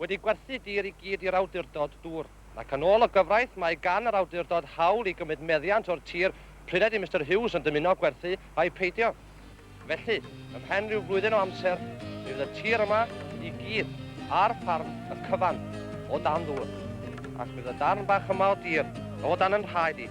wedi gwerthu dir i gyd i'r awdurdod dŵr, ac yn ôl y gyfraith mae gan yr awdurdod hawl i gymryd meddiant o'r tir pryd ydy Mister Hughes yn dymuno gwerthu ai peidio. Felly, ymhen rhyw flwyddyn o amser, mi fydd y tir yma i gyd ar ffarm y cyfan o dan ddŵr, ac mi fydd y darn bach yma o dir o dan yn rhaed i.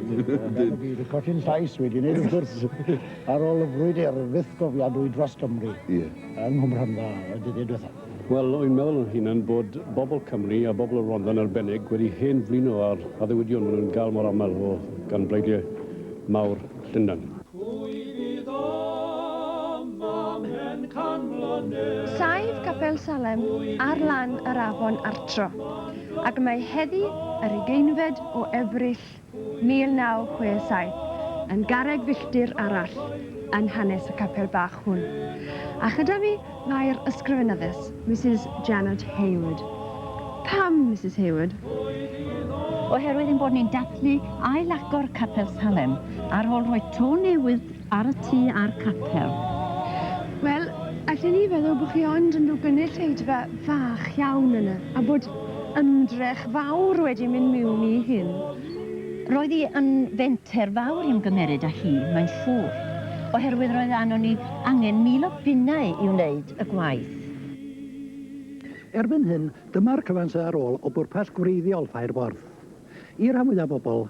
Ydyn. Wedi recordi'n llais wedi wneud wrth gwrs ar ôl y frwydr fyth gofiadwy dros Gymru Ie. yng Nghwm Rhondda y dyddiau diwethaf. Wel, wy'n meddwl yn hunan bod bobl Cymru a bobl y Rhondda yn arbennig wedi hen flino â'r addewidion maen nhw'n gael mor aml o gan bleidiau mawr Llundain. Pwy fydd yma mhen can mlynedd? Saif Capel Salem ar lan yr afon Artro, ac mae heddi yr ugeinfed o Ebrill 1967, yn garreg filltir arall yn hanes y capel bach hwn. A chyda fi mae'r ysgrifenyddus, Misus Janet Hayward. Pam Misus Hayward? Oherwydd ein bod ni'n dathlu ail-agor Capel Salem ar ôl rhoi to newydd Ar y tŷ a'r capel. Wel, allwn i feddwl bod chi ond yn rhyw gynulleidfa fach iawn yna, a bod ymdrech fawr wedi mynd miwn i hyn. Roedd hi yn fenter fawr i ymgymeryd â hi, mae'n siŵr, oherwydd roedd arnon ni angen mil o bunnau i wneud y gwaith. Erbyn hyn, dyma'r cyfan sydd ar ôl o bwrpas gwreiddiol Ffair Borth. I ran fwyaf bobl,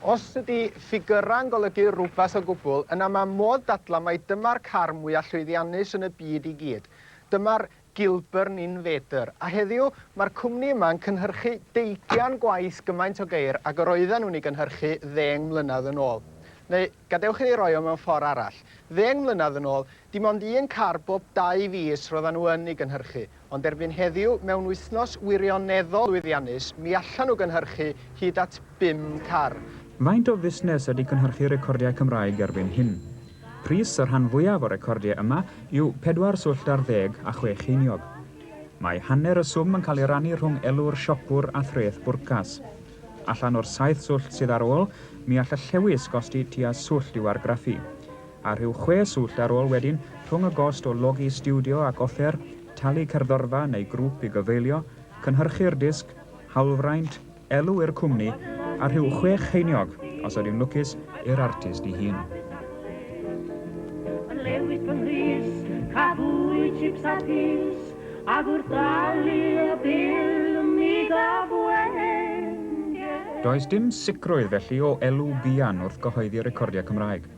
Os ydy ffigyrau'n golygu rhywbeth o gwbl, yna mae modd dadlau mai dyma'r car mwyaf llwyddiannus yn y byd i gyd. Dyma'r Gilburn Invader. A heddiw, mae'r cwmni yma'n cynhyrchu deugian gwaith gymaint o geir ag yr oedden nhw'n ei gynhyrchu ddeng mlynedd yn ôl. Neu, gadewch i fi roi o mewn ffordd arall. Ddeng mlynedd yn ôl, Dim ond un car bob dau fis roeddan nhw yn ei gynhyrchu, ond erbyn heddiw, mewn wythnos wirioneddol lwyddiannus, mi allan nhw gynhyrchu hyd at bum car. Faint o fusnes ydy cynhyrchu recordiau Cymraeg erbyn hyn? Pris y rhan fwyaf o recordiau yma yw pedwar swllt ar ddeg a chwe cheiniog. Mae hanner y swm yn cael ei rannu rhwng elw'r siopwr a threth bwrcas. Allan o'r saith swllt sydd ar ôl, mi all y llewys gosti tua swllt i'w argraffu. a rhyw chwe swllt ar ôl wedyn, rhwng y gost o logi stiwdio ac offer, talu cerddorfa neu grŵp i gyfeilio, cynhyrchu'r disg, hawlfraint, elw i'r cwmni, a rhyw chwech cheiniog, os ydyw'n lwcus, i'r artist i hun. Yn lewis fy nghrys, cafwyd chips a pys, ac wrth ddalu y bil mi gaf wengen. Does dim sicrwydd felly o elw buan wrth gyhoeddi recordiau Cymraeg.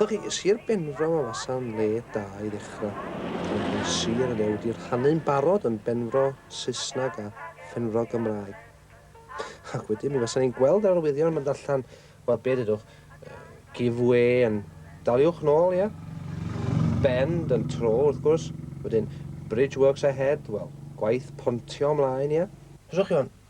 Felly, Sir Benfro a fasa'n le da i ddechrau. Ond mae sir y fe wedi rhannu'n barod yn Benfro Saesneg a Phenfro Gymraeg. Ac wedyn mi fasan ni'n gweld yr arwyddion mynd allan, wel be dydwch, give way yn daliwch nôl, ie? Bend yn tro, wrth gwrs. Wedyn, bridge works ahead, wel, gwaith pontio ymlaen, ie? Os o'ch chi on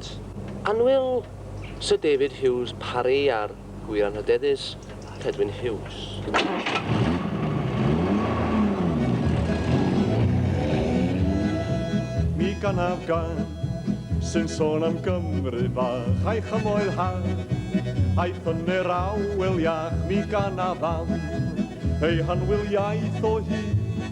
T. Annwyl, Syr David Hughes Parry a'r gwir anrhydeddus, Cedwyn Hughes. Mi ganaf gan sy'n sôn am Gymru fach a'i chymoedd hardd, a'i ffynnu'r awel iach, mi ganaf am ei hanwyl iaith o hyd.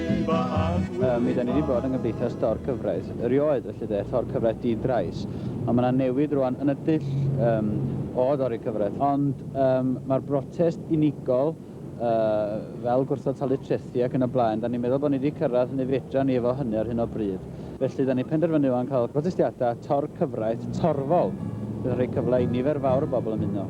Yy, mi 'da ni 'di bod yng Nghymdeithas Dor Cyfraith erioed, felly de, Tor Cyfraith Di-drais, ond ma' 'na newid rŵan yn y dull yym o dorri cyfraith, ond yym ma'r brotest unigol yy fel gwrthod talu trethi ac yn y blaen, 'da ni'n meddwl bod ni 'di cyrraedd hynny fedra ni efo hynny ar hyn o bryd. Felly 'da ni'n penderfynu ŵan cael protestiadau tor cyfraith torfol, bydd yn rhoi cyfle i nifer fawr o bobl ymuno.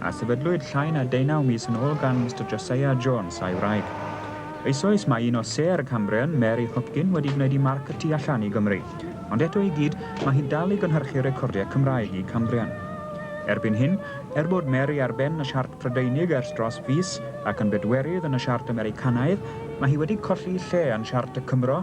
a sefydlwyd llai na deunaw mis yn ôl gan Mister Josiah Jones a'i wraig. Eisoes mae un o Sêr y Cambrian, Mary Hopkin, wedi gwneud i Mark y tu allan i Gymru, ond eto i gyd mae hi'n dal i gynhyrchu recordiau Cymraeg i Cambrian. Erbyn hyn, er bod Mary ar ben y siart Prydeinig ers dros fis ac yn bedwerydd yn y siart Americanaidd, mae hi wedi colli lle yn siart y Cymro,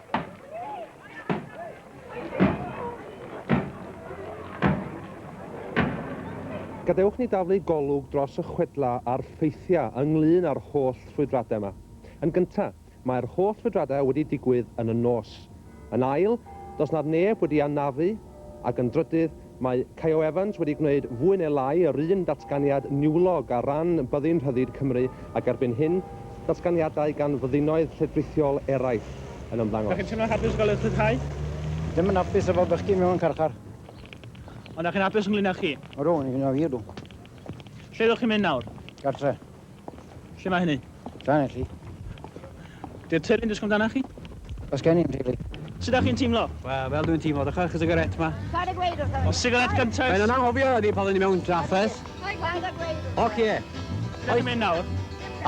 Gadewch ni daflu golwg dros y chwedlau a'r ffeithiau ynglŷn â'r holl ffrwydradau yma. Yn gyntaf, mae'r holl ffrwydradau wedi digwydd yn y nos. Yn ail, does 'na neb wedi anafu, ac yn drydydd, Mae Caio Evans wedi gwneud fwy neu lai yr un datganiad niwlog ar ran Byddin Rhyddid Cymru ac erbyn hyn, datganiadau gan fyddinoedd lledrithiol eraill yn ymddangos. Dach chi'n teimlo'n hapus o gael eich rhyddhau? Ddim yn hapus efo bod chi mewn carchar. Ond dach chi'n hapus ynglŷn â chi? Ydw, yn hynna wir, ydw. Lle ydych chi'n mynd nawr? Gartre. Lle mae hynny? Llanelli. Di'r teulu'n dysgu amdana chi? Os gen i'n rili. Sut ydych chi'n teimlo? Wel, fel dwi'n teimlo, dechrau'r cigarette ma. Paid â gweud wrtho fi. Cigarette gynta. Mae'n anghofio ni pan ni mewn trafferth. Paid â gweud wrtho fi. Oce. Ble ti'n mynd nawr?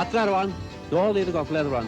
Adra rwan. Nôl i'r gogledd rwan.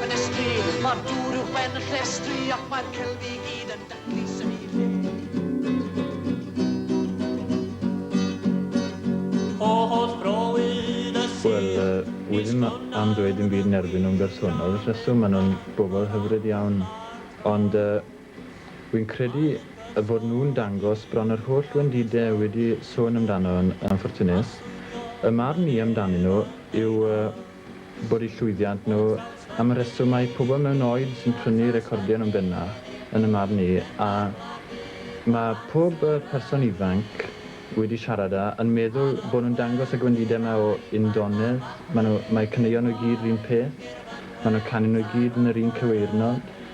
Ffenestri, Mae'r dŵr uwch ben y llestri Ac mae'r celf i gyd yn daclus yn ei lle. O holl frowydd y sir Wel, yy, wi ddim am ddweud dim byd yn erbyn nhw'n bersonol, y rheswm, maen nhw'n bobl hyfryd iawn, ond, yy, wi'n credu y bod nhw'n dangos bron yr holl wendide wedi sôn amdano yn anffyrtunus. Y marn i amdanyn nhw yw, yy, bod eu llwyddiant nhw am y rheswm mae pobl mewn oed sy'n prynu recordion yn bennaf, yn y marn i, a mae pob person ifanc wedi siarad â, yn meddwl bod nhw'n dangos y gwendidau yma o undonedd, mae nhw, mae caneuon nhw i gyd yr un peth, mae nhw'n canu nhw i gyd yn yr un cyweirnod.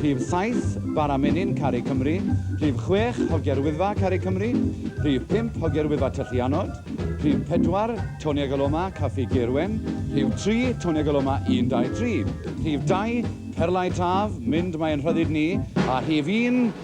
Rhif saith, Bara Menyn, Caru Cymru, Rhif chwech, Hogia'r Wyddfa, Caru Cymru, Rhif pump, Hogia'r Wyddfa, Tyllu Anod, Rhif pedwar, Tony ag Aloma, Caffi Gaerwen, Rhif tri, Tony ag Aloma, Un, Dau, Tri, Rhif dau, Perlau Taf, Mynd Mae Ein Rhyddid Ni, a Rhif un,